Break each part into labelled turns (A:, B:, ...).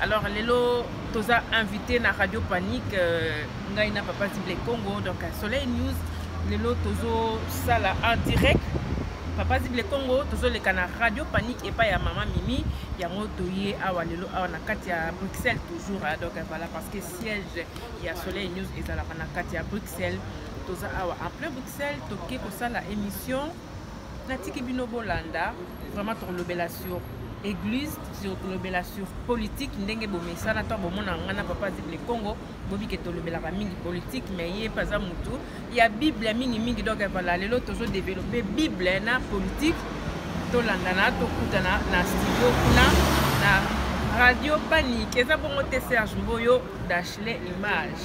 A: Alors lelo toza invité na Radio Panique euh, ngai na Papa Zible Congo donc à Soleil News lelo tozo sala en direct Papa Zible Congo tozo leka na Radio Panique epa ya Mama Mimi yango toye awa lelo awa na kati ya Bruxelles toujours hein, donc voilà parce que siège ya Soleil News ezalaka na kati ya Bruxelles toza awa en plein Bruxelles toke kosala émission natiki bino bolanda vraiment tokolobela sur église tokolobela sur politique ndenge bomesana to bomona ngai na papa zible congo bobike tolobelaka mingi politique mais ye mpe aza motu ya bible mingimingi donc vala lelo tozo développe bible na politique tolandana tokutana na studio kuna na radio panique eza bongo te serge mboyo dachele image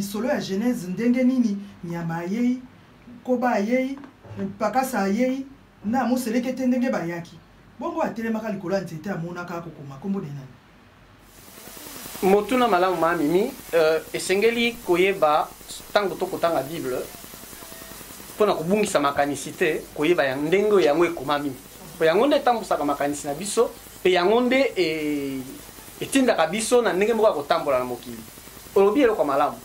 B: lisolo ya genèse ndenge nini nyama ayei koba ayei pakasa ayei na moselekete ndenge bayaki bongo atelemaka likolo ya nzete amonaka kokoma nkombo na nani motuna
C: malamu ma mimi euh, esengeli koyeba ntango to kotanga bible mpo na kobungisa makanisi te koyeba ya ndenge oyo yango ekomami mpo yango nde etambusaka makanisi na biso mpe yango nde e, etindaka biso na ndenge moko ya kotambola na mokili olobi eloko malamu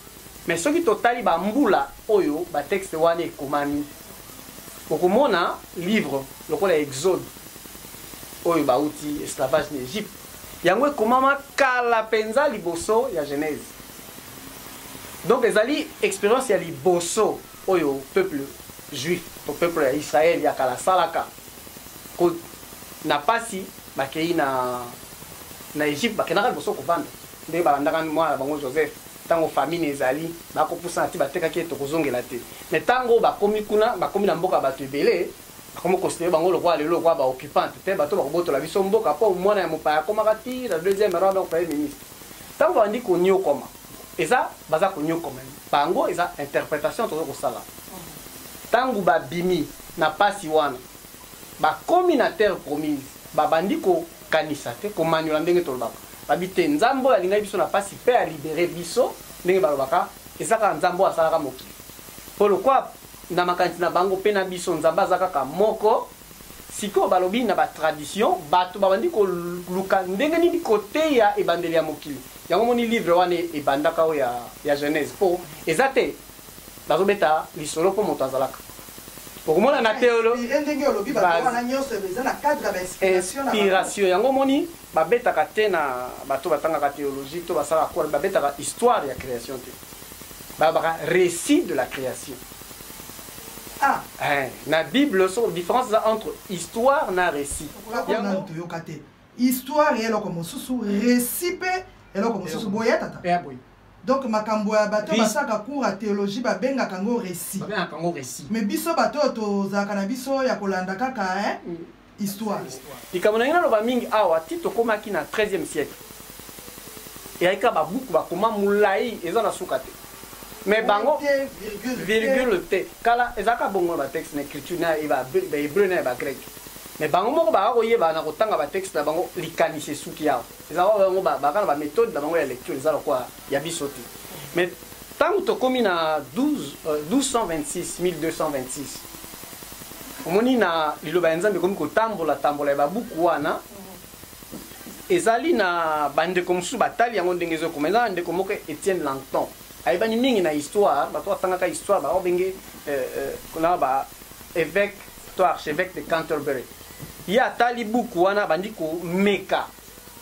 C: mais soki totali bambula oyo batexte wana ekomami okomona livre lokola exode oyo bauti esclavage na egypte yango ekomama kala mpenza liboso ya genèse donc ezali expérience ya liboso oyo peuple juif to peuple ya israel ya kala asalaka na mpasi bakei na na egypte bakendaka liboso kovanda nde balandaka mwana na bango joseph ntango famine ezali bakopusana ti batekaki ye tokozongela te me ntango bakomi kuna bakomi na mboka bato ebele Akomi considere bango lokola lelo lokola ba occupante te bato bakobotola biso mboka mpo mwana ya mopaya akomaka ti na deuxième rang donc premier ministre ntango babandi konyokwama eza baza konyokwama bango eza interpretation tozo kosala ntango babimi na pasi wana bakomi na terre promise babandi kokanisa te komanyola ndenge tolobaka babi te nzambe oyo alingaki biso na pasi mpe alibere biso ndenge balobaka eza kaka nzambe oyo asalaka mokili mpo lokola Na makanisi na bango pe na biso Nzambe aza kaka moko. Sikoyo balobi na ba tradition batu babandi koluka ndenge nini koteya ebandeli ya mokili. Yango omoni livre wana ebandaka oyo ya Genese po eza te bazobeta lisolo po moto azalaka. Okomona na teolo inspiration yango omoni babetaka te na bato batangaka teologie to basalaka kole babetaka histoire ya creation te. babaka récit de la création
B: ah. eh, na
C: bible so différence eza entre histoire na récit yango toyoka
B: te histoire ya eloko mosusu récit mpe eloko mosusu boye ya tata eh, donc
C: makambo
B: ya bato basaka cours ya théologie babengaka yango récit mais biso bato oyo tozalaka na biso ya kolanda kaka eh? mm. histoire likambo na ngai
C: naloba mingi awa ti tokomaki na 13e siècle eyaki kaka babuku bakoma molai eza na suka te mais bango virgule te kala ezalaka bongo na batexte na écriture na bahébreu na ya bagreke mais bango moko baka koyeba na kotanga batexte na bango likanisi esuki awa ezalaka bango baka na baméthode na bango ya lecture eza lokola ya biso te mais ntango tokomi na 1226 1226 omoni na liloba ya nzambe ekomi kotambola tambola ya babuku wana ezali na bandeko mosusu batali yango ndenge ezokoma eza na ndeko moko etienne langton ayebani mingi na histoire bato batangaka histoire baobenge euh, euh, kuna ba évêque to archevêque de canterbury ye atali buku wana abandi komeka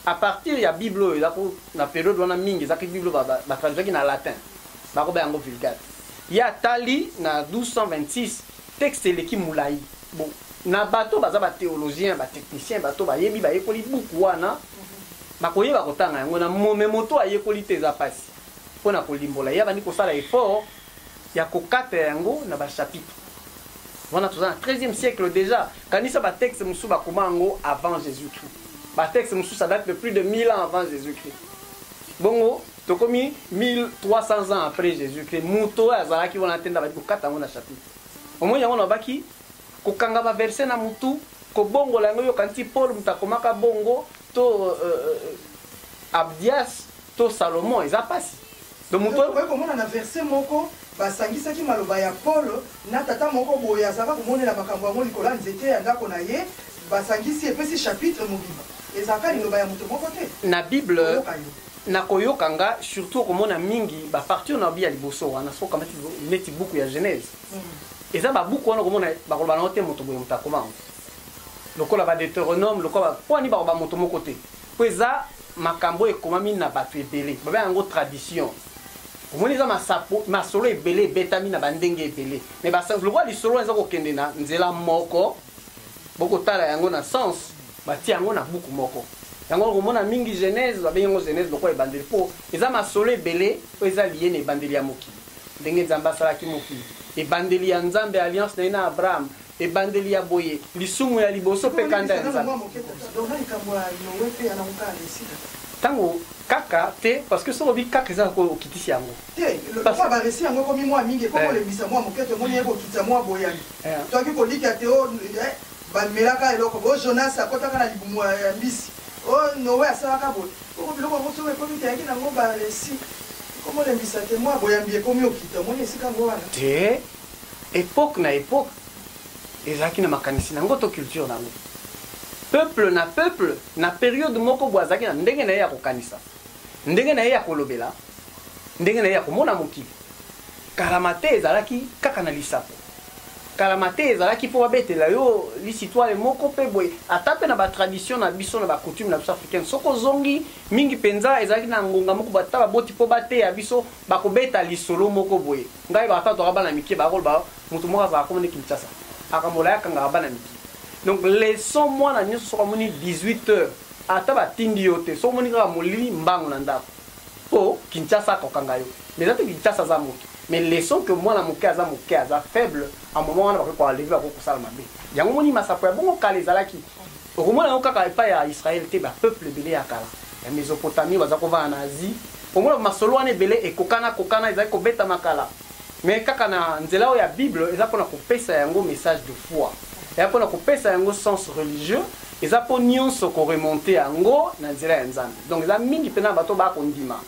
C: A partir ya Bible oyo eza ko na periode wana mingi ezaki Bible ba, ba, ba traduisaki na latin. Bako ba yango Vulgate. Ye atali na 1226 texte eleki mulayi. Bon, na bato baza ba theologiens, ba techniciens, bato bayebi bayekoli buku wana bakoyeba kotanga yango na mo, mais moto ayekoli te eza pasi pona kolimbola ye abandi kosala effort ya kokata yango na ba chapitre wana toza na 13e siècle déjà kanisa ba texte mosusu bakoma yango avant jésus christ ba texte mosusu ça date de plus de 1000 ans avant jésus christ bongo tokomi 1300 ans après jésus christ moto oyo azalaki wana te nda badi kokata yango na chapitre omoni yango nabaki kokanga baverse na motu kobongola yango yoka nti paul moto akomaka bongo to euh, euh, abdias to salomon eza mpasi Donc moto okoki komona na verse
B: moko basangisaki maloba ya Paul na tata moko boye azalaka komonela makambo yango likolo ya nzete ya ndako na ye basangisi epesi chapitre mobimba ezalaka liloba ya moto moko te na bible
C: na koyoka nga surtout okomona mingi bapartir na bi ya liboso wana soki okamati neti buku ya genèse mm. eza babuku wana okomona bakoloba nango te moto boye moto akoma yango lokola badeuteronome lokola mpo ani bakoba moto moko te mpo eza makambo oyo ekomami na bato ebele babengaka yango tradition omoni eza masapo masolo ebele ebetami na bandenge ebele me lokola lisolo wana eza kokende na nzela moko bokotala yango na sens batia yango na buku moko yango okomona mingi genèse babengi yango genèse lokola ebandeli mpo eza masolo ebele oyo eza liye na ebandeli ya mokili ndenge nzambe asalaki mokili ebandeli ya nzambe alliance na ye na abraham Ebandeli ya boye, lisumu ya liboso mpe kanda ya Nzambe. Tango kaka te parce que soki obi kaka eza ko okitisi yango te lokola ba
B: récit yango ekomi mwa mingi ekomi kolembisa eh. mwa moke to moni ye kokitisa mwa boyani eh. toaki kolika te oh, eh, bamelaka eloko bo jonas akotaka na libumu ya mbisi o oh, noe asalaka boye oko biloko yango soki ekomi te yaki nango ba récit ekomolembisa te mwa boyambi ekomi okita omoni esika yango wana te
C: Epoque na epoque ezalaki na makanisi na yango to culture na yango. Peuple na peuple na periode moko bo azalaki na ndenge na ye ya kokanisa, ndenge na ye ya kolobela, ndenge na ye ya komona mokili. Kala mate ezalaki kaka na lisapo. Kala mate ezalaki mpo babetela yo lisitwale moko mpe boye ata mpe na batradition na biso na bacoutume na biso africaine soki ozongi mingi mpenza ezalaki na ngonga moko bata baboti mpo bateya biso Bakobeta lisolo moko boye. Ngai ba tata toka bana mike ba koloba mutu moko azalaka kombo ne Kinshasa. Akambola ya kangaka bana mike. Donc leçon mwana nioso soki amoni 18 heures ata ba tindi yo te soki omoni kaka molili mbangu na ndaku. Po Kinshasa ako kanga yo. Mais eza te Kinshasa aza mutu. Mais leçon que mwana muke aza muke aza faible a moment wana bakoki ko enlever bakoki kosala mabe. Yango omoni masapo ya bongo kala ezalaki. Okomona yango kaka epai ya Yisraele te, bapeuple ebele ya kala ya Mesopotamie bazali kovanda na Asie. Okomona masolo wana ebele ekokanakokana, ezali kobetama kala, mais kaka na nzela oyo ya Bible, eza mpo na kopesa yango message de foi, eza mpo na kopesa yango sens religieux, eza mpo nyonso ko remonter yango na nzela ya Nzambe. Donc eza mingi mpenza na bato oyo baya kondima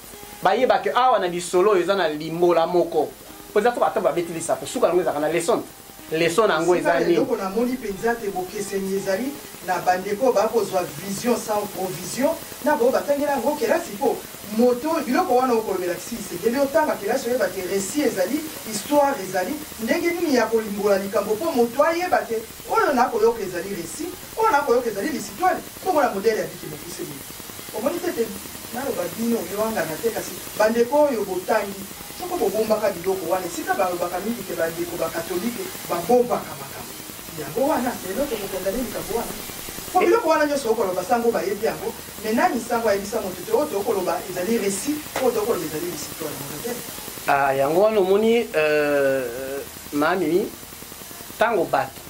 C: bayeba que awa na lisolo oyo eza na limbola moko, mpo eza fo ata babeti lisapo, suka na yango ezalaka na leson te. Leson na yango eza nini? Eloko na moni penza te
B: bokeseni ezali na ba ndeko oyo ba kozwa vision sans provision na ba oyo ba tangela yango kelasi po moto oyo biloko wana oko lobela Tshisekedi o tanga kelasi oyeba te recit ezali histoire ezali ndenge nini ya ko limbola likambo po moto ayeba te oyo na ko yoka ezali recit Oyo na koyoka ezali lisitwale bongo na modele ya biki mokuse boye. Omoni te ete naloba bino oyowangana te kasi bandeko oyo botangi soko bobombaka biloko wana esika balobaka mingi te bandeko ba katolike babombaka makambo yango wana lelo tokokondane likambo wana po biloko wana nyoso okoloba sango bayebi yango me nani sango ayebisa moto te oyo tokoloba ezali resi oyo tokoloba ezali lisitwale modele ah, yango wana omoni
C: euh, mamimi ntango bato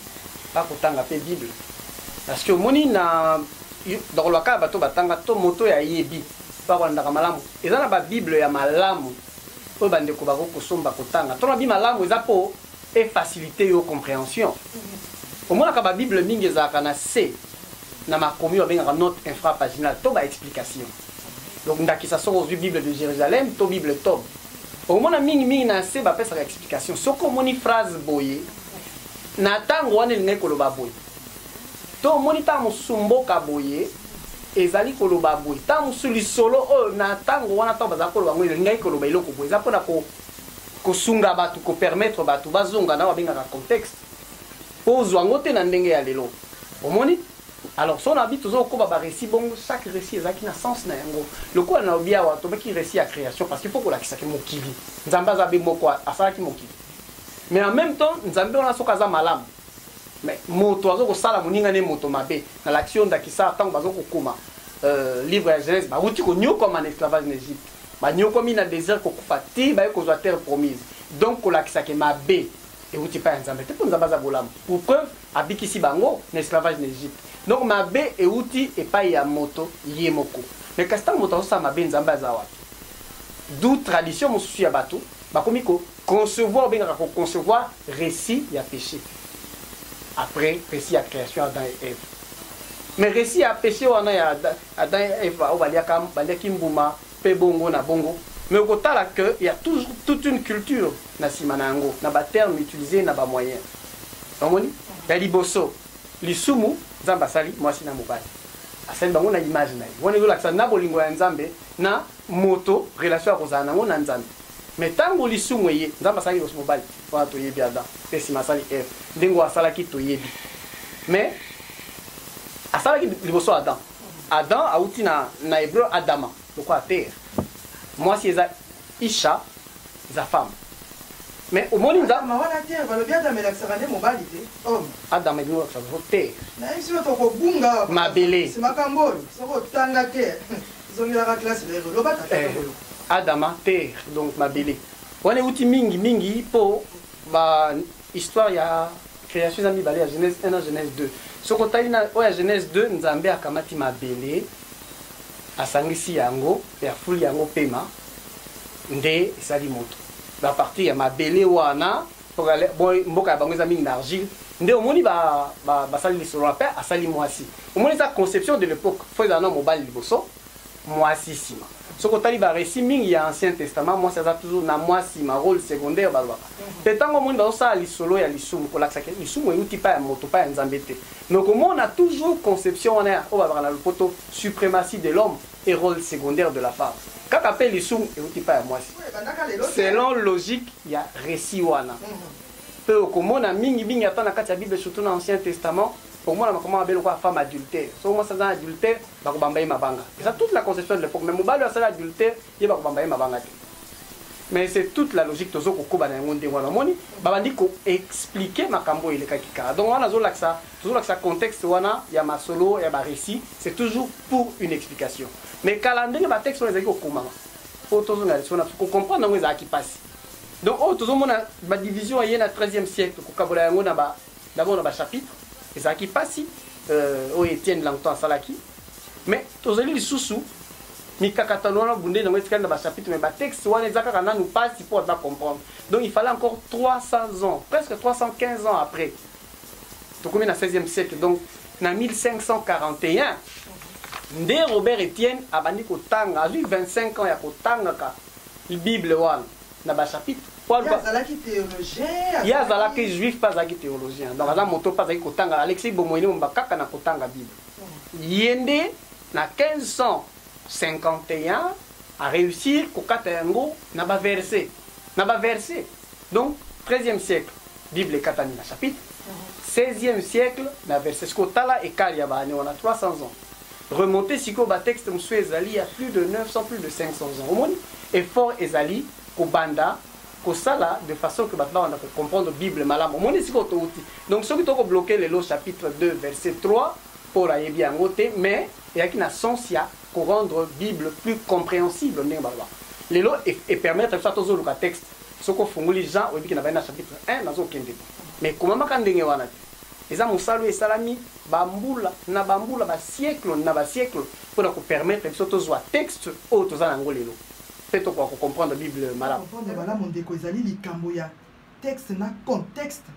C: bakotanga pe bible parce que omoni na nakoloba kaka bato batanga to moto ya yebi bakolandaka malamu eza na babible ya malamu oyo bandeko bakoki kosomba kotanga to nabi malamu eza mpo efacilite yo comprehension omonaka babible mingi ezalaka na se na makomi babengaka note infrapaginal to baexplication donc ndakisa soko ozwi bible de jérusalem to bible tob omona mingimingi na se bapesaka explication soki omoni phrase boye na ntango wana elingaki koloba boye to omoni ntango mosusu mboka boye ezali koloba boye ntango mosusu lisolo oyo na ntango wana ntango bazali koloba yango elingaki koloba eloko boye eza mpona kosunga bato kopermettre bato bazonga na babengaka contexte mpo ozwa yango te na ndenge ya lelo omoni alors so na bi tozokoba barécit bongo chaque récit ezalaki na sens na yango lokola na lobi awa tobaki récit ya création parce qu'il faut kolakisaki mokili nzambe aza be moko asalaki mokili mais en même temps nzambe wana soki aza malamu mais moto azo kosala moninga ne moto mabe nalakisi yo ndakisa ntango bazo kokoma euh, livre ya genèse bawuti konyokwama na esclavage na egypte banyokwami na désert kokufa ti baye kozwa terre promise donc kolakisake mabe ewuti epai ya nzambe te mpo nzambe aza bolamu pour preuve abikisi bango na esclavage na egypte donc mabe ewuti epai ya moto ye moko mais kasi ntango moto azosala mabe nzambe aza wapi du tradition mosusu ya bato Bakomi ko concevoir, obengaka ko concevoir recit ya peche après recit ya creation Adam et Eve. Mais recit ya peche wana ya Adam et Eve oyo baliaka baliaki mbuma pe bongo na bongo mais okotala que ya tout, toute une culture na nsima na yango na baterme utilise na bamoyen omoni ya liboso lisumu nzambe asali mwasi na mobali asali bango na image na ye wana ezolakisa na bolingo ya nzambe na Moto relation akozala nango na Nzambe. Mais tango lisumu eye, Nzambe asalaki liboso mobali? Wana toyebi Adam, pe sima asali Eve. Ndenge oyo asalaki toyebi. Mais asalaki liboso Adam. Adam awuti na na hebreu Adama, lokola terre. Mwasi eza Isha, eza femme. Mais omoni nza Adama wana te balobi Adama
B: elakisaka nde mobali te homme. Adama elingi kolakisa
C: te. Na ye sio
B: tokobunga. Mabele. Makambo
C: oyo
B: soko otanga te. zongelaka classe na yo loba tata eh, oyo adama
C: terre donc mabele wana euti mingi mingi mpo ba histoire ya création eza mibale ya genèse 1 na genèse 2 soki otali na oyo ya genèse 2 nzambe akamati mabele asangisi yango mpe afuli yango mpema nde esali moto na partir ya mabele wana mboka ya bango eza mingi na argile nde omoni basali lisolo na mpe asali mwasi omoni eza conception de l'époque fo ezala na mobali liboso mwasi nsima soki otali baresi mingi ya ancien testament mwasi aza toujours na mwa nsima role secondaire balobaka mpe mhm. ntango omoni bazosala lisolo ya lisumu kolakisa ke lisumu euti mpa ya moto mpa ya nzambe te mais okomona toujours conception wana ya oyo babaka na lopoto suprematie de l'homme et role secondaire de la femme kaka pe lisumu euti pa ya mwasi selon logique ya resi wana pe mhm. okomona mingi mingi ata na kati ya bible surtout na ancien testament okomona makoma mabe lokola femme adultère soki mwasi aza na adultère bakobamba ye mabanga eza toute la conception de l'époque mais mobali oyo asali adultère ye bakobamba ye mabanga te mais c'est toute la logique tozo kokoba na yango ndenge wana omoni babandi koexplike makambo oyo elekaki kala donc wana azolakisa tozolakisa contexte wana ya masolo ya barécit c'est toujours pour une explication mais kala ndenge batexte wana ezalaki kokomama mpo tozonga liso na kocomprendre yango ezalaki mpasi donc oyo tozomona badivision eye na 13e siècle kokabola yango na ba d'abord na bachapitre ezalaki mpasi euh, oyo etienne langton asalaki mais tozali lisusu mikakatano wana bundeli yango etikali na bachapitre mais batexte wana eza kaka nanu mpasi mpo baza comprendre donc il fallait encore 300 ans presque 315 ans après tokomi na 16e siècle donc na 1541 nde robert etienne abandi kotanga azwi 25 ans ya kotangaka bible wana na bachapitre
B: ye azalaki juif
C: mpe azalaki théologien donc aza moto mpe azalaki kotanga alexi bomoini momba kaka na kotanga bible ye nde na 1551 aréussir kokata yango na baverse na baverse Donc 13e siècle Bible ekatani na chapitre 16e mhm. siècle na verset siko tala ekali ya baane wana 300 ans remonte sikoyo batexte mosusu ezali ya plus de 900 plus de 500 ans omoni effort ezali kobanda kosala de façon que bato babanda kocomprendre bible malamu omoni sikoyo touti donc soki tokobloke lelo chapitre 2 verset 3 paul ayebi yango te mais eyaki na sens ya korendre bible plus compréhensible ndenge baloba lelo epermettre biso atozoluka texte soki ofungoli jean oyebi ke nabai na chapitre 1 nazokende bo mais ekomamaka ndenge wana te eza mosala oyo esalami bambula na bambula basiekle na basiekle mpo na kopermettre biso tozwa texte oyo toza na yango lelo mpe tokoka kocomprendre bible malamu comprendre malamu ndeko
B: ezali likambo ya texte na contexte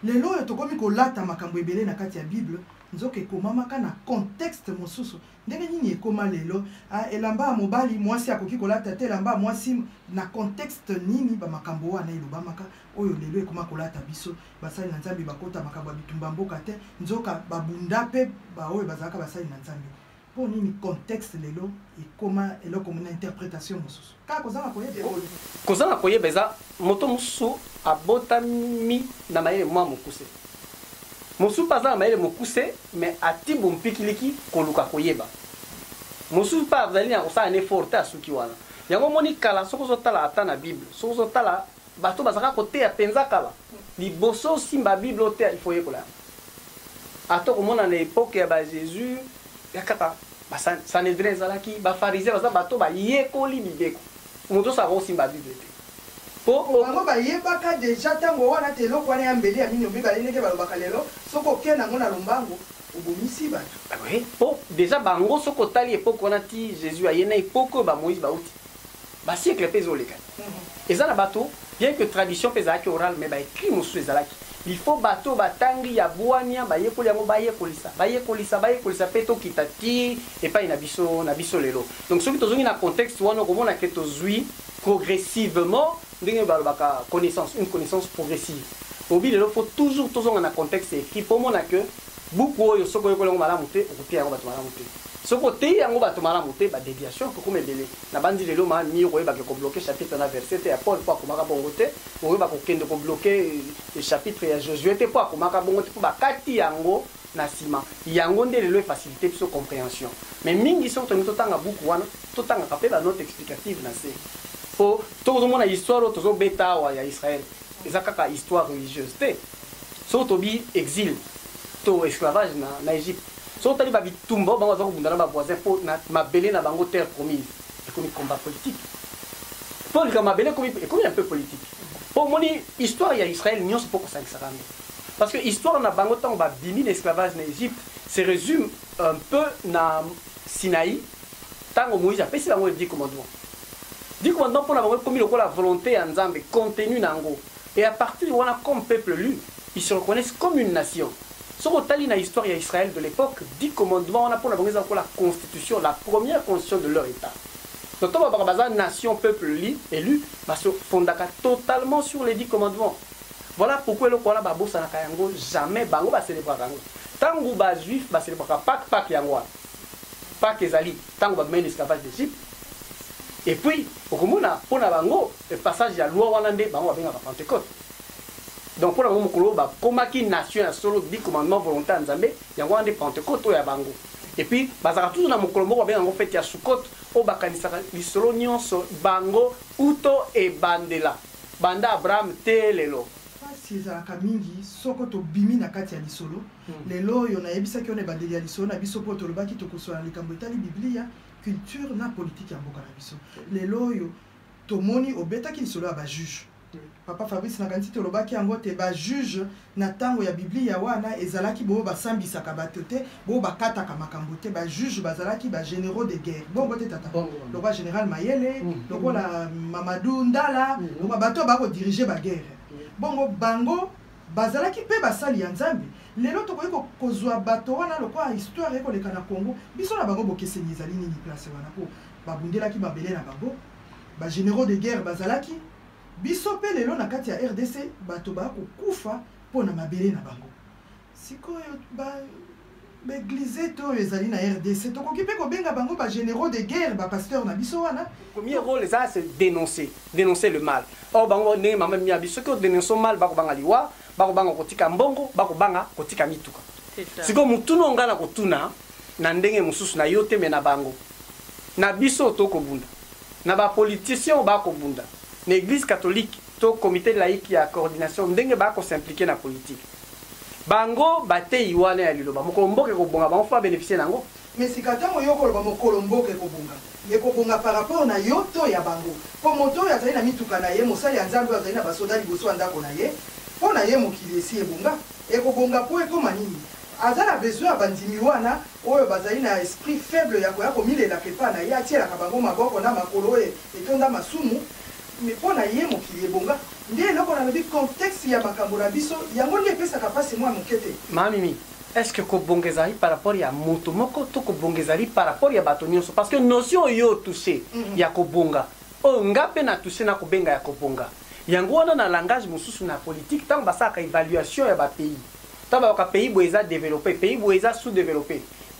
B: lelo oyo tokomi kolata makambo ebele na kati ya bible nzoka ekomamaka na contexte mosusu ndenge nini ekoma lelo ah, elamba ya mobali mwasi akoki kolata te elamba ya mwasi na contexte nini bamakambo wana elobamaka oyo lelo ekoma kolata biso basali na nzambe bakota makambo ya bitumba mboka te nzoka babunda mpe baoyo bazalaka basali na nzambe mpo nini contexte lelo ekoma eloko na interpretation mosusu Kaka kozanga koyeba eboni. Kozanga
C: koyeba eza moto mosusu abotami na mayele mwa mokuse. Mosusu mpe aza na mayele mokuse me ati bompikiliki koluka koyeba. Mosusu mpe azali na kosala na effort te asuki wana. Yango omoni kala soki ozotala ata na Bible, soki ozotala Bato bazalaka koteya penza kala. Liboso osimba bible oteya il faut oyekola yango. Ata okomona na epoque ya ba Jesus ya kaka ba Sanhedrin ezalaki, ba Pharisiens baza bato bayekoli mibeko. Moto osa akoki kosimba bible te. Po bango
B: bayebaka dejà tango wana te eloko wana ya mbeli ya mino mibale ndenge balobaka lelo soki oke nango na lombango obomisi bato. Ah oui po dejà
C: bango soki otali epoque wana ti Jesus aye na epoque oyo ba Moïse bawuti. Ba siècle pe ezo leka. Eza na bato bien que tradition pe ezalaki oral mais ba ecrits mosusu ezalaki. Il faut bato oyo ba tangi ya bwania ba yekoli yango ba yekolisa, ba yekolisa, ba yekolisa pe to kita tii epayi na biso, na biso lelo. Donc soki to zongi na contexte wana oko mona que to zui progressivement ndenge ba lobaka connaissance, une connaissance progressive. Obi lelo faut toujours to zonga na contexte ecrits po omona que buku oyo soki oyekoli yango malamu te oko teya yango bato malamu te. Soki oteyi yango bato malamu te ba deviations eko koma ebele. Nabanzi lelo ma mur oyeba ke ko bloque chapitre na verse te ya Paul po akomaka bongo te, oyeba ko kende ko bloque chapitre ya Josue te po akomaka bongo te po ba kati yango na sima. Yango nde lelo e faciliter biso comprehension. Mais mingi soki tolingi to tanga buku wana, to tangaka pe ba notes explicatives na se. Po soki ozo mona histoire oyo tozo beta awa ya Israël, eza kaka histoire religieuse te. Soki to bi exil to esclavage na Egypte, soki otali ba bitumba oyo bango baza kobunda na ba voisin mpo na mabele na bango terre promise ekomi combat politique mpo likambo mabele ekomi ekomi un peu politique mpo omoni histoire ya israel nyonso mpo kosangisaka yango parce que histoire na bango ntango babimi na esclavage na egypte se résume un peu na sinai ntango moïse apesi bango le dix commandement dix commandement mpo na bango ekomi lokola volonté ya nzambe contenu na yango Et à partir wana comme peuple lu ils se reconnaissent comme une nation soki otali na histoire ya Israël de l'epoque dix commandements wana pona bango eza lokola constitution la première constitution de leur etat donc to balobaka baza nation peuple li elu ba se fondaka totalement sur les dix commandements voilà pourquoi eloko wana babosanaka yango jamais bango ba celebraka yango ntango ba juif ba celebraka pake pake yango wana pake ezali Tango ba bimaki na esclavage d'Egypte et puis okomona pona bango passage ya loi wana nde bango babengaka Pentecote. Donc pona bango mokolo ba komaki nation ya solo dit commandement volonté ya Nzambe yango wana nde Pentecote oyo ya bango. Et puis bazalaka toujours na mokolo moko babengaka yango fete ya Sukkot oyo bakanisaka lisolo nionso bango uto ebandela banda Abraham tee lelo. Pasi ezalaka
B: mingi soko tobimi na kati ya lisolo. lelo oyo nayebisaki yo na ebandeli ya lisolo na biso mpo tolobaki tokosola na likambo etali biblia culture na politike ya mboka na biso lelo oyo tomoni obetaki lisolo ya bajuge papa fabrice nakanisi tolobaki yango te bajuge na ntango ya biblia wana ezalaki boyo basambisaka bato te boyo bakataka makambo te bajuge bazalaki bagénéraux de guerre bongo te tata lokola général mayele mm. lokola mamadou ndala mm. lokola bato bakodirige baguerre mm. bongo bango Bazalaki pe basali ya Nzambe. Lelo tokoki ko kozua bato wana lokola histoire eko leka na Congo. Biso na bango bokeseni ezali nini place wana po ba bundelaki mabele na bango. Ba generaux de guerre bazalaki. Biso pe lelo na kati ya rdc bato ba ko kufa po na mabele na bango. Sikoyo ba baeglise to oyo ezali na rdc tokoki mpe kobenga bango bagénéraux de guerre bapasteur na biso wana premier rôle eza se
C: dénoncer dénoncer le mal or bango ndenge mama mia biso soki odénonce mal bakobanga liwa bakobanga kotika mbongo bakobanga kotika mituka sikoyo motuna onga na kotuna na ndenge mosusu na yo te me na bango na biso tokobunda na bapoliticien bakobunda na église catholique to comité laïque ya coordination ndenge bakosimplike na politike bango bateyi wana ya liloba mokolo mboka ekobonga bango fo babenefisie na yango Mais sika tango yo
B: okoloba mokolo mboka ekobonga, ekobonga par rapport na yo to ya bango? Po moto oyo azali na mituka na ye, mosali ya Nzambe oyo azali na ba soda liboso ya ndako na ye, po na ye mokili esi ebonga? Ekobonga po ekoma nini? Aza na besoin ya bandimi wana oyo bazali na esprit faible ya koya komilelaka epa na ye, atielaka bango maboko na makolo oyo etonda masumu, Mais pona ye mokili ebonga nde eloko nalobi contexte ya makambo na biso yango nde epesaka pasi mua moke te. Ma Mimi, est
C: ce que kobonga ezalaki par rapport ya moto moko to kobonga ezali par rapport ya bato nionso? Parce que notion oyo yo o toucher ya kobonga, oyo nga pe na toucher nako benga ya kobonga. Yango wana na langage mosusu na politique tango basalaka evaluation ya ba pays, Tango baloka pays boye eza developpe, pays boye eza sous developpe,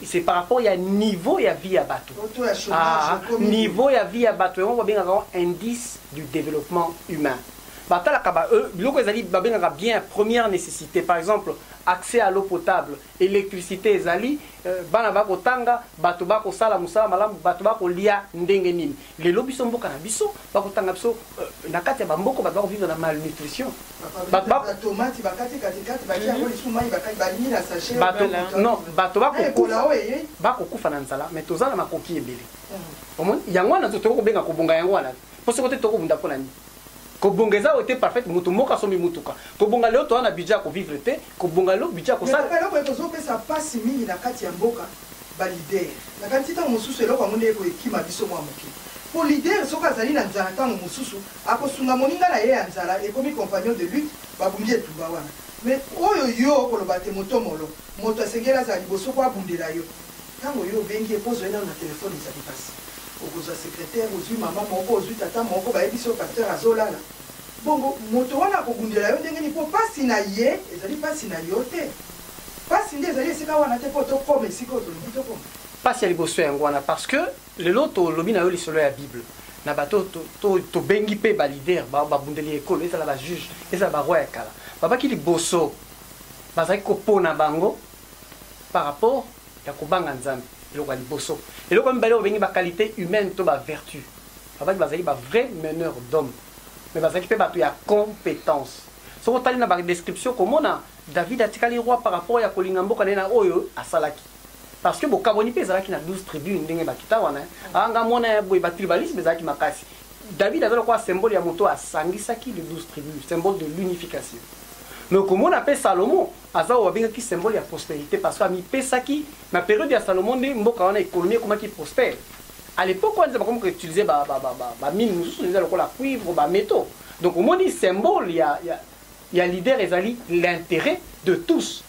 C: c'est par rapport ya niveau ya vie ya batu. Ah, niveau ya vie ya batu yango babengaka yango indice du développement humain. Batalaka ba euh, biloko ezali babengaka bien première nécessité. Par exemple, accès à l'eau potable, électricité ezali, euh, bana bakotanga, bato bakosala mosala malamu, bato bakolia ndenge nini. lelo biso mboka na biso bakotanga biso euh, na kati ya bamboko bato bakovivre na malnutrition
B: non
C: bato bakokufa na nzala mais toza na makoki ebele hmm. omoni yango wana tokoki kobenga kobonga yango wana mpo soki te tokobunda mpo na nini kobonga eza oyo te parfaite moto moko asombi motuka kobonga lelo toza na budget ya kovivre te kobonga lelo budget ya kosala eloko ekozopesa mpasi
B: mingi na kati ya mboka balider nakanisi ntango mosusu eloko yango nde ekoekima biso mwa moke mpo lider soki azali na nzala ntango mosusu akosunga moninga na ye ya nzala ekomi compagnon de lutte babundi etumba wana me oyo yo okoloba te motomolo moto asengeli azala liboso mpo abundela yo Tango yo obengi ye po ozwa ye nanu na telephone ezali pasi. Okozwa secretaire, ozwi mama moko, ozwi tata moko, bayebisi yo pasteur azo lala. Bongo moto wana akobundela yo ndenge nini po pasi na ye ezali pasi na yo te. Pasi nde ezali esika wana te po tokoma esika oyo tolingi tokoma. Pasi ya liboso
C: yango wana parce que lelo tolobi na yo lisolo ya bible na bato to tobengi pe ba leader ba babundeli ya ekolo ezala ba juge ezala ba roi ya kala babaki liboso bazalaki kopona bango par rapport ya kobanga nzambe eloko ya liboso eloko ya mibale obengi baqualité humaine to bavertu babaki bazalaki bavrai meneur d'homme mais bazalaki mpe bato ya compétence soki otali na badescription komona david atikali roi par rapport ya kolinga mboka na ye na oyo asalaki parce que bokabwani mpe ezalaki na 12 tribu ndenge bakita wana anga mwana ya boye batribalisme ezalaki makasi david aza lokola symbole ya moto asangisaki le 12 tribu symbole de l'unification mais okomona mpe salomo Aza oyo babengaki symbole ya prosperite parce que amipesaki na periode ya Salomon nde mboka wana economie ekomaki prospère. A l'epoque wana nde bakomi ko utiliser ba ba ba ba mines mosusu eza lokola cuivre, ba metaux. Donc omoni symbole ya ya ya leader ezali l'interet de tous.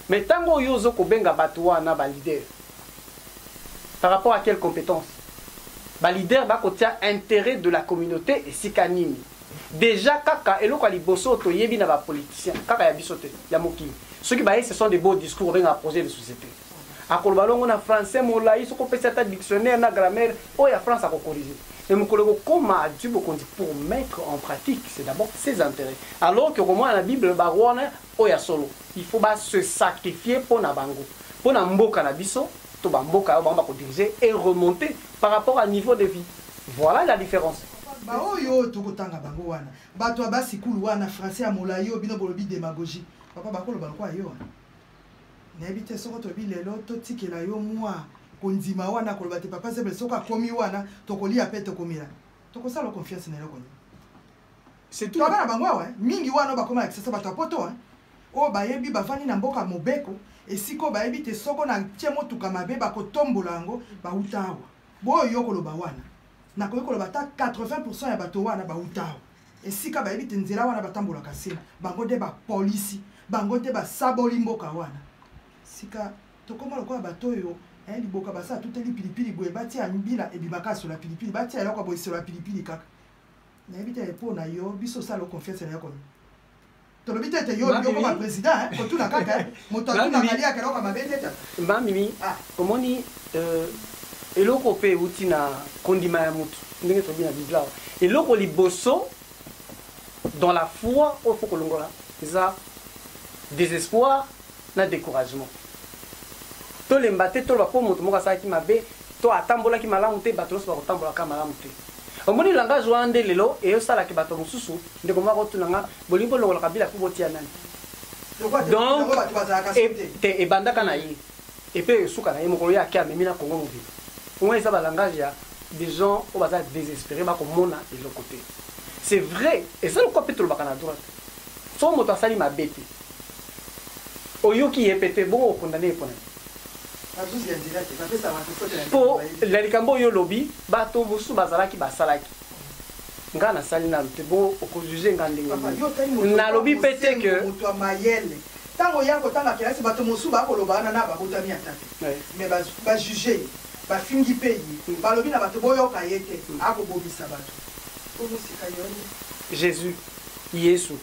C: Mais tango oyo yo ozo kobenga batu wana ba leader par rapport à quelle competence? Ba leader bakotia interet de la communaute esika nini? Dejà kaka eloko ya liboso oyo toyebi na ba politiciens kaka ya biso te ya mokili soki baye ce sont des beaux discours obengaka projet de société akoloba longo na français molayi soki opesi ata dictionnaire na grammaire oyo ya france akokorige mais mokolo ekokoma adui bokonzi pour mettre en pratique c'est d'abord ses intérêts alors que okomona na bible bawana Oyo ya solo il faut ba se sacrifier pona bango pona mboka na biso to ba mboka oyo bango ba ko diriger e remonte par rapport a niveau de vie voila la difference. Ba oyo oyo
B: toko tanga bango wana batu ya ba sikulu wana français ya molayi oyo bino bolobi demagogie papa bako loba lokola yo wana nayebi te soko toyebi lelo to tikela yo mua kondima wana koloba te papa zebele soko akomi wana toko lia pe toko mela toko sala confiance na eloko nini surtout bana na bango awa mingi wana bakoma ya kisasa bato ya poto oyo bayebi bavandi na mboka mobeko esika oyo bayebi te soko na tie motuka mabe bakotombola yango bauta awa boyo yo koloba wana nakoki koloba ata 80 pourcent ya bato wana bauta awa esika bayebi te nzela wana batambolaka se bango nde bapolisi bango nde basaboli mboka wana sika tokoma lokola bato oyo eh, liboka basala tuteli pilipili boye batia mbila ebimaka asola pilipili batia eloko boye esola pilipili kaka nayebi te mpo na yo biso osala confiance na yo kono tolobi te ete yo olingi okoma président eh, kotuna kaka eh. moto atunaka liaka eloko mabe te ta mamimi ah.
C: omoni euh, eloko mpe euti na kondima ya motu ndenge tolobi na biblia eloko liboso dans la foi oyo fo kolongola eza désespoir na decouragement. Tolemba te toloba po moto moko asalaki mabe to atambolaki malamu te bato nionso bakotambola kaka malamu te. Omoni langage wana nde lelo eosala ke bato mosusu ndeko moko akotuna nga bolingi bolongola Kabila po botia nani? Donc te ebandaka na ye epe esuka na ye mokolo ye ake amemi na Congo mobimba. Wana eza ba langage ya des gens oyo baza desespere bakomona eloko te. C'est vrai eza lokola pe tolobaka na droite soki moto asali mabe te Oyoki ye pe te bongo o condamne ye pona nini? Po na likambo oyo olobi bato mosusu bazalaki basalaki nga nasali nanu te bongo oko juge nga ndenge nini? Nalobi pe te que. Tango
B: ya kotanga kelasi bato mosusu ba koloba wana na babotami ata te mais ba juge ye ba fingi pe ye balobi na bato boyoka ye te ako bomisa bato. Jesus
C: yesu.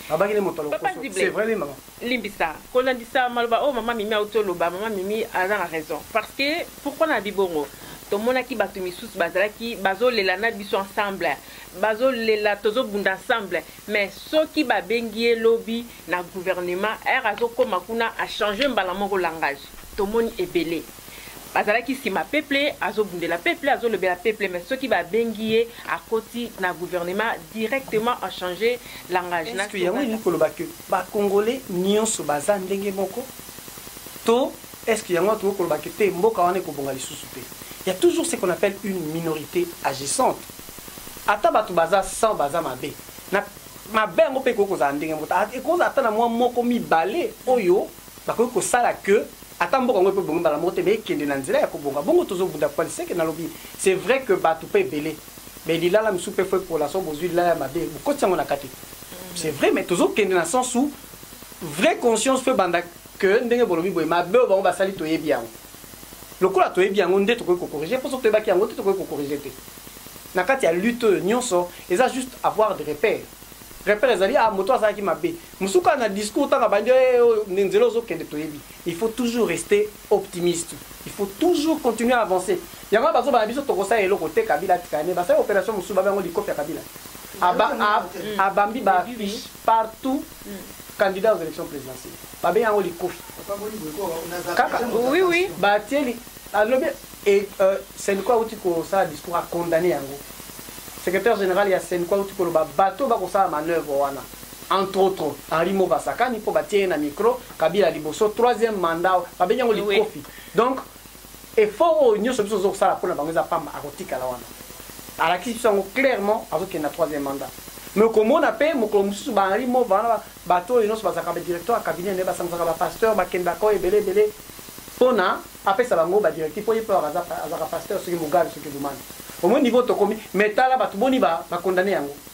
C: babaki nde moto alokoso c'est vrai oui maman limbisa kolandisa
A: maloba oyo mama mimi auti oloba mama mimi aza na raison parce que pourquoi na bibongo tomonaki bato misusu bazalaki bazolela na biso ensemble bazolela tozobunda ensemble mais soki babengi ye lobi na gouvernement ere azokóma kuna achange mbala moko langage tomoni ebele bazalaki nsima peuple azobundela peuple azolobela peuple mais soki babengi ye akoti na gouvernement directement en change langage na yango elingi koloba
C: ke bacongolais nyonso baza ndenge moko to est-ce que yango tokoki koloba ke te mboka wana ekobonga lisusu te ya toujours ce qu'on appelle une minorité agissante ata bato baza 100 baza mabe na mabe yango mpe ekoki kozala ndenge moko ah, ekozala ata na mwa moko mibale oyo bakoki kosala que ata mboka yango mpe ebongi mbala moko te mais ekende na nzela ya kobonga bongo tozobunda kwani seke nalobi c'est vrai que bato mpe ebele mais lilala mosusu mpe fo epola so bozwi lilala ya mabe bokotisi yango na kati c'est vrai mais tozokende na sens où vraie conscience fo ebanda que ndenge bolobi boye mabe oyo bango basali toyebi yango lokola toyebi yango nde tokoki kokorige mpo soki toyebaki yango te tokoki kokorige te na kati ya lutte oyo nyonso eza juste avoir de repère repère ezali ah moto azalaki mabe Mosusu kaka na discours ntango abandi eh, oyo nde nzela ozokende toyebi. Il faut toujours rester optimiste. Il faut toujours continuer à avancer. Yango wana bazobana biso tokosala eloko te Kabila atikala ne basali opération mosusu babe yango likofi ya Kabila. Aba, ab, abambi ba affiche partout candidat aux élections présidentielles. Babe yango likofi. Kaka Oui, oui.
A: batie li-
C: alobi e- euh, senko auti kosala discours acondamne yango secrétaire général ya senko auti koloba bato bakosala manœuvre wana entre autres Henri Mova asakani mpo batie ye na micro Kabila liboso troisième mandat babengi yango likofi donc effort oyo nyonso biso tozokosala mpo na bango eza pamba akotikala wana alakisi biso yango clairement azokende na troisième mandat mais okomona mpe mokolo mosusu ba Henri Mova wana bato oyo nyonso bazalaka badirecteur ya cabinet naye basangisaka bapasteur bakendaka oyo ebele ebele mpo na apesa bango badirective mpo ye mpe azalaka pasteur soki mogali soki lumani omoni niveau tokomi mais tala bato boni bakondane yango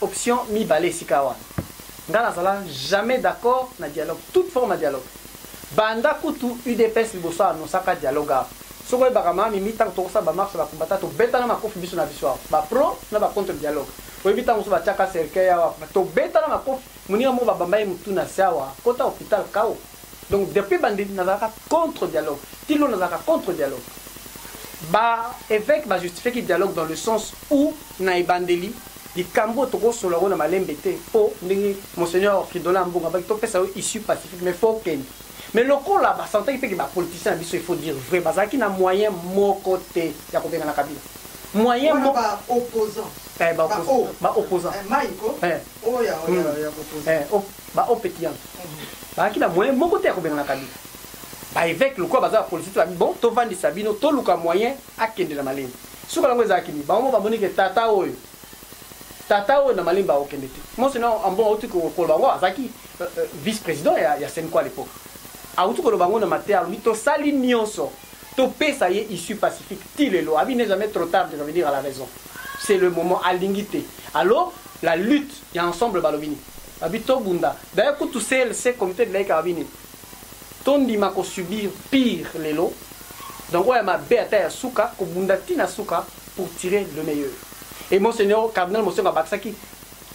C: option mibale esika wana nga nazala jamais d'accord na dialogue toute forme ya dialogue banda kutu udps liboso anosaka dialogue awa soki oyebaka mama mimi ntango tokosala bamarche ya bakumbata tobetana makofi biso na biso awa bapro na bacontre dialogue oyebi ntango mosusu batiaka cercueil awa tobetana makofi moninga moko babamba ye motu na se awa kota hopital kao Donc depuis bande nazalaka contre dialogue. Tilo nazalaka contre dialogue. Ba évêque ba justifier ki dialogue dans le sens où na ebandeli likambo tokosola ngo na malembe te po ndenge monseigneur Fridola Mbongo abaki topesa yo issue pacifique mais faut kende. Mais lokola ba sentaki pe que ba politiciens na biso il faut dire vrai bazalaki na moyen moko te ya kobengana Kabila. Moyen moko ba opposants.
B: Eh, ba opposants. Ba
C: opposants. Eh, Maiko.
B: Eh. Oh, ya, oh, ya, hmm. ya, ya, eh, oh, ba opeti yango
C: bazalaki na moyen moko te ya kobengana kabila baeveke lokola baza bapolitike babi bon tovandisa bino toluka moyen akende na malemi suka yango ezalaki nini bango bamoni ke tata oyo tata oyo na malemi bakokende te mosi na ambongo auti koloba yango azalaki euh, euh, vice président ya, ya senko à l'époque auti koloba yango na mateya alobi tosali nyonso topesa ye issue pacifique ti lelo abi ne jamais trop tard de revenir à la raison c'est le moment alingi te alors La lutte ya ensemble balobi nini? Babi tobunda. D'ailleurs kutu CLC comité de laïka babi nini? Tondima ko subir pire lelo. Donc oya mabe ata ya suka kobunda ti na suka pour tirer le meilleur. Et monseigneur cardinal Mosengwo abakisaki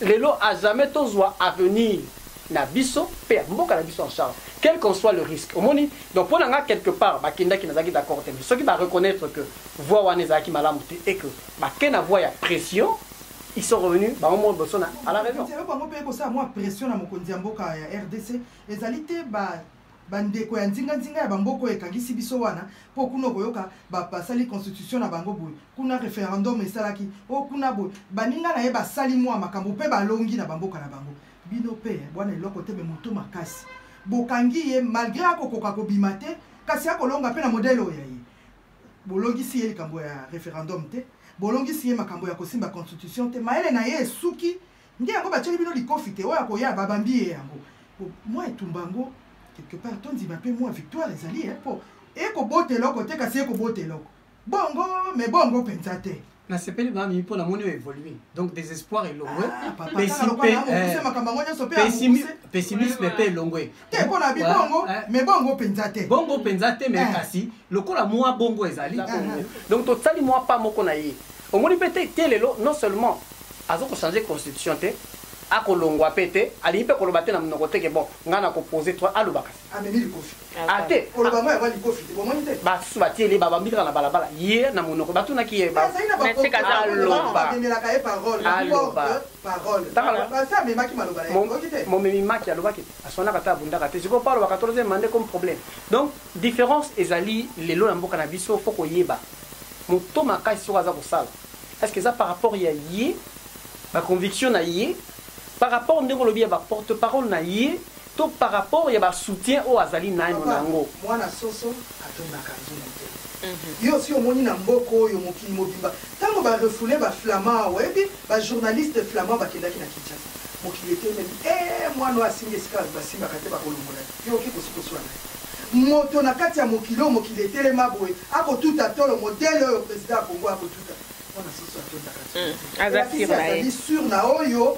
C: lelo à jamais tozwa avenir na biso mpe ya mboka na biso en charge quel qu'en soit le risque omoni donc mpo na ngai quelque part bakendaki nazalaki d'accord te mais soki bareconnaitre que voie wana ezalaki malamu te et que bake na voie ya pression ils sont revenus bango moko liboso na à la raison eloko yango mpe ekosala mwa
B: pression na mokonzi ya mboka ya rdc ezali te bandeko ya nzinganzinga ya bamboka oyo ekangisi biso wana mpo kuna okoyoka basali constitution na bango boye kuna referendum esalaki o oh, kuna boye baninga na ye basali mwa makambo mpe balongi na bamboka na bango bino mpe bwana eloko te me moto makasi bokangi ye malgre akokoka kobima te kasi akolonga mpe na modele oyo ya ye bolongisi ye likambo ya referendum te bolongisi ye makambo ya kosimba constitution te mayele na ye esuki nde yango batyeli bino likofi te oyo akoya babambi ye yango mwa etumba yango quelque part tondima mpe mwa victoire ezali mpo ekobota eloko te kasi ekobota eloko bongo me bongo mpenza te
C: nasepeli mami mpo namoni o évolue donc désespoir elongwe pessimisme mpe elongwe te mpo na bibongo
B: mais bongo mpenza te bongo mpenza te
C: mais eh. kasi lokola mwa bongo ezali eh, eh. donc tosali mwa pa moko na ye omoni mpe te te lelo non seulement aza kochange constitution te akolongwa mpe te alingi mpe koloba te na monoko te ke bon ngai nakopose to alobaka amemi
B: likofi ate ah, koloba ngo
C: yango likofi
B: te bomoni te basusu batieli babambi
C: kaka na balabala ye na monoko batunaki ye bamemelaka ye
B: paroleasi amemaki maloba momemi maki
C: alobaki aswanaka te abundaka te sikoyo paulo bakatoloze mande comme problème donc différence ezali lelo na mboka na biso fo koyeba moto makasi soko aza kosala est ce que eza par rapport ya ye baconviction na ye par rapport ndenge olobi ya baporte parole na ye To par rapport ya ba soutien oyo azali naino na yango. Papa, mwana soso
B: atondaka nzungu te. Yo osi omoni na mboka oyo mokili mobimba tango ba refouler ba flamands oyebi ba journalistes flamands bakendaki na Kinshasa mokili etelemi eeh mwana oyo asimbi esika basimbaka te bakolongola ye. Yo oke kosi koswana ye? Moto na kati ya mokili oyo mokili etelema boye ako tuta tolo modèle oyo president ya Congo ako tuta? Mwana soso atondaka nzungu te. Elakisi azali sur na oyo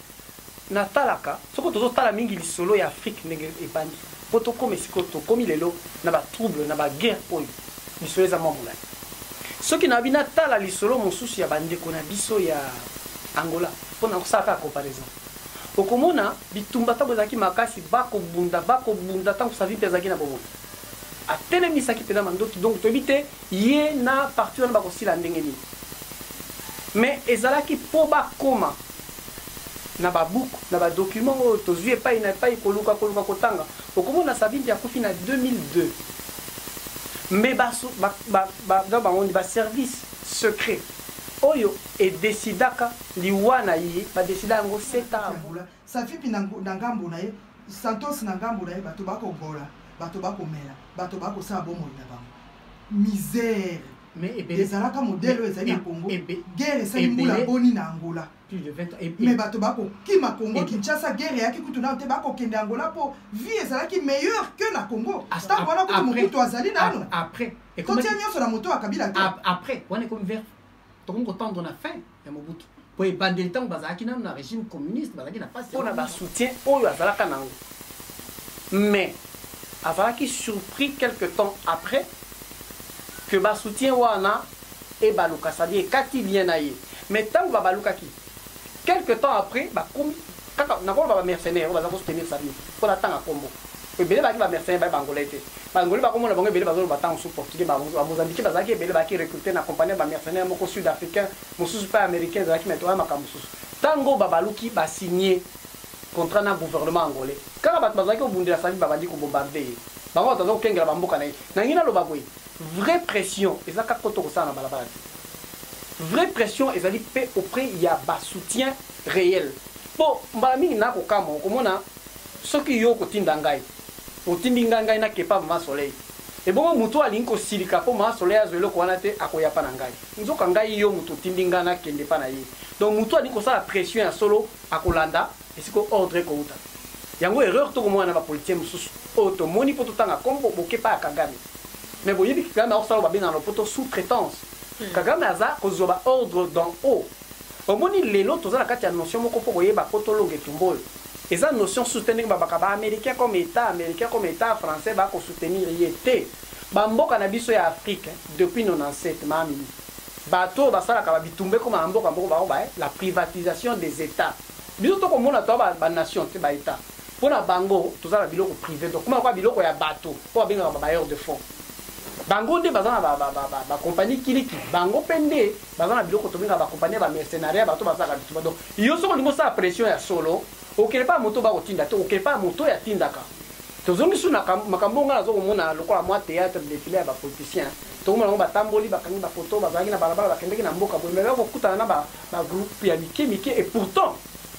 C: natalaka soko tozotala mingi lisolo ya afrique ndenge ebandi mpo tokoma esikoyo tokomi lelo na batrouble na baguerre oyo lisolo eza mwa molai soki nabi natala lisolo mosusu ya bandeko na biso ya angola mpo na kosala kaka comparaison okomona bitumba ntango ezalaki makasi bakobunda bakobunda ntango savimpe azalaki na bomoi atelemisaki mpenza mandoki donc toyebi te Ye na parti wana bakosila ndenge nini? Mais ezalaki po bakoma na ba buku, na ba documents oyo tozui epayi na epayi, koluka koluka kotanga. Okomona Savimbi akufi na 2002, mais ba ba ba ba donc bango nini? Ba service secret oyo e decidaka liwa na ye, ba decida yango sept ans avant. Safipi na,
B: na ngambo na ye, Santos na ngambo na ye, bato bakobola, bato bakomela, bato bakosala bomoi na bango. Misère ezalaka modele oyo ezali na Congo. Guerre esali mbula boni na Angola. Mais bato bakokima Congo, Kinshasa, guerre eyaki kutu nano te, bakokende Angola mpo vie ezalaki meilleure que na Congo. Ntango wana kutu mokutu azali nano. Totia nyonso na moto ya Kabila te. Après, wana ekomi vers
C: tokomi kotendre na fin ya mobutu mpo ebandeli ntango bazalaki nano na régime communiste bazalaki na mpasi mpo na basoutien oyo azalaka nango mais azalaki surpris quelque temps après que basoutien wana ebaluka sadi ekati lien na ye mais ntango babalukaki quelque temps après bakomi kaka nakoloba ba mercenaires oyo baza ko soutenir Sami mpo natanga kombo ebele baki ba mercenaires baye bangolais te bangolais bakomona bango ebele bazoloba ntango su portugais bamozambiki bazalaki ebele baki recrute na compagnie ba mercenaires moko sud africain mosusu mpe américain ezalaki meto wana makambo mosusu ntango babaluki basigne contrat na gouvernement angolais kaka bato bazalaki kobundela Sami babandi kobombarde ye bango bato baza kokengela bamboka na ye nangi naloba boye vraie pression eza kaka koto kosala na balabala te vraie pression ezali mpe auprès ya basoutien reel po mbala mingi na kokamwa okomona soki yo okotinda ngai otindi ngai ngai na kepa mama soleil ebongo moto alingi kosilika po mama soleil azwa eloko wana te akoya pa na ngai nzoka ngai yo moto otindi ngai nakende pa na ye donc moto alingi kosala pression ya solo akolanda esika ordre ekouta yango erreur tokomona na bapolitien mosusu oyo tomoni mpo totanga kombo boke pa ya kagame mais boyebi kagame akosala oyo babengana na lopoto sous traitance hmm. kagame aza kozwa baordre dans haut Omoni lelo toza na kati ya notion moko mpo koyeba poto longa etumba oyo eza notion sous te ndenge babaka ba americain comme etat americain comme etat français ba ko soutenir ye te ba mboka na biso ya afrique depuis 97 mamie bato oyo basalaka ba bitumba ekoma na mboka moko bango baye la privatisation des etats biso to komona to ba ba nation te ba etat mpo na bango toza na biloko prive donc kuma kwa biloko ya bato mpo babengaka ba bailleur de fonds bango nde baza na ba ba ba ba compagnie kiliki bango mpe nde baza na biloko tobenga ba compagnie ya ba mercenaria bato bazalaka bitumba donc yo soki olingi osala pression ya solo okele pa moto bakotinda te okele pa moto oyo atindaka tozongisi na makambo ngai naza komona lokola mwa théâtre défilé ya bapoliticien tokomona yango batamboli bakangi bafoto bazalaki na balabala bakendeki na mboka boye mebaya kokutana na bagroupe ya mike mike et pourtant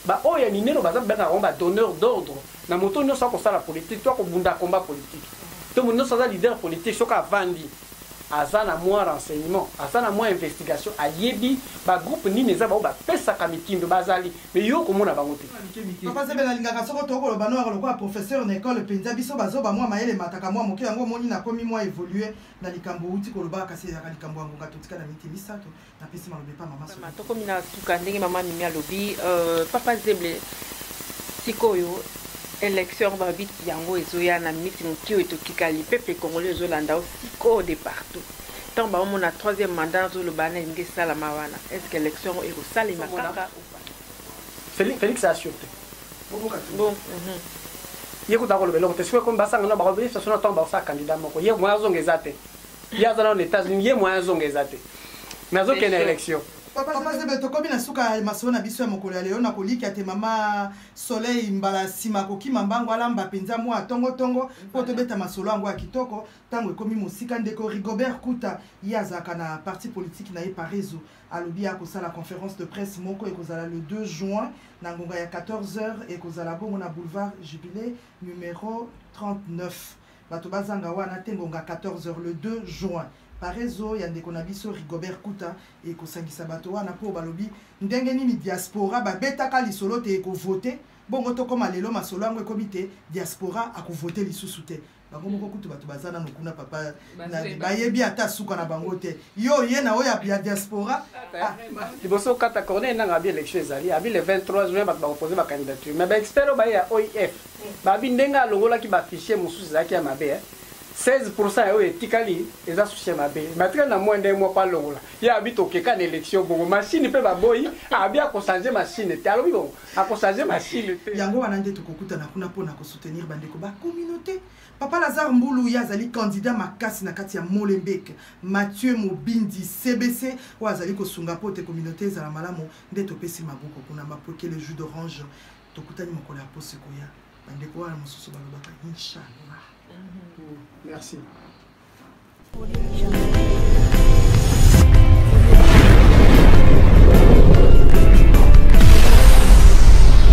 C: baoyo ya minene baza bengaka yango badonneur d'ordre na moto nyonso akosala politike to akobunda combat politike to moto nyonso aza leader politike soki avandi aza na mwa renseignement aza na mwa investigation ayebi ba groupe nini eza baoyo bapesaka mitindo bazali mais yo okomona bango te Papa Zebe na lingaka
B: soko to koloba no yaka lokola professeur na ecole penza biso ba zoba mua mayele emataka mua moke yango omoni na komi mua evolue na likambo owuti koloba kasi ezalaka likambo ya ngonga totika na minute misato napesi maloba epa mama Mama, tokomi na suka ndenge
A: mama mimi alobi euh, papa zeble sikoyo élection yango balobi yango ezoya na miniti moke oyo totikali peuple congolais ezolanda o sikoyo de partout ntango baomona troisième mandat azoloba na elingi esalama wana est ce que élection yango ekosalema kaka
C: Félix, Félix a sûreté. boboka te
A: bon mhm.
C: Ye kuta koloba eloko te. Sikoyo ekomi basangana bakoloba ye sasona ntango bakosala candidat moko. Ye moya azonga eza te. ye aza nano na etats unis ye moyen azonga eza te mais azokende na élection papa zebe tokomi
B: na suka ya masolo na biso ya mokolo ya lelo na kolikia te mama soleil mbala nsima akokima mbango alamba mpenza mwa tongotongo mpo tobeta masolo yango ya kitoko ntango ekomi mosika ndeko rigobert kuta ye azalaka na parti politiki na ye parezo alobi akosala conférence de presse moko ekozala le 2 juin na ngonga ya 14 heures ekozala bongo na boulevard jubilé numero 39 Bato bazanga wana te ngonga 14 heures le 2 juin. Parezo ya ndeko na biso Rigobert Kuta ekosangisa bato wana mpo balobi ndenge nini diaspora babetaka lisolo te ekovote bongo tokoma lelo masolo yango ekomi te diaspora akovote lisusu te bango moko kutu bato baza nano kuna papa bayebi ata suka na bango te yo oye na oyo ya diaspora ah. liboso
C: okata corneille nanga abi élection ezali abi le 23 juin bato bakopose bacandidature mais baexpert oyo baye ya oif babi ndenge alongolaki bafichier mosusu ezalaki ya mabe 16 pourcent ya oyo etikali eza susi ya mabe batikali na mwa nde mwa mpo alongola ye abi tokeka na élection bongo mashine mpe baboyi abi akochange mashine te alobi bongo akochange mashine te yango wana nde tokokutana
B: kuna mpo na kosoutenir bandeko bacommunauté Papa Lazare Mbulu ye azali candidat makasi na kati ya Molenbeek. Mathieu Mobindi CBC oyo azali kosunga mpo te communauté ezala malamu nde topesi maboko kuna mapweke le jus d'orange tokutani mokolo ya poso ekoya bandeko wana mosusu balobaka inshallah. Merci.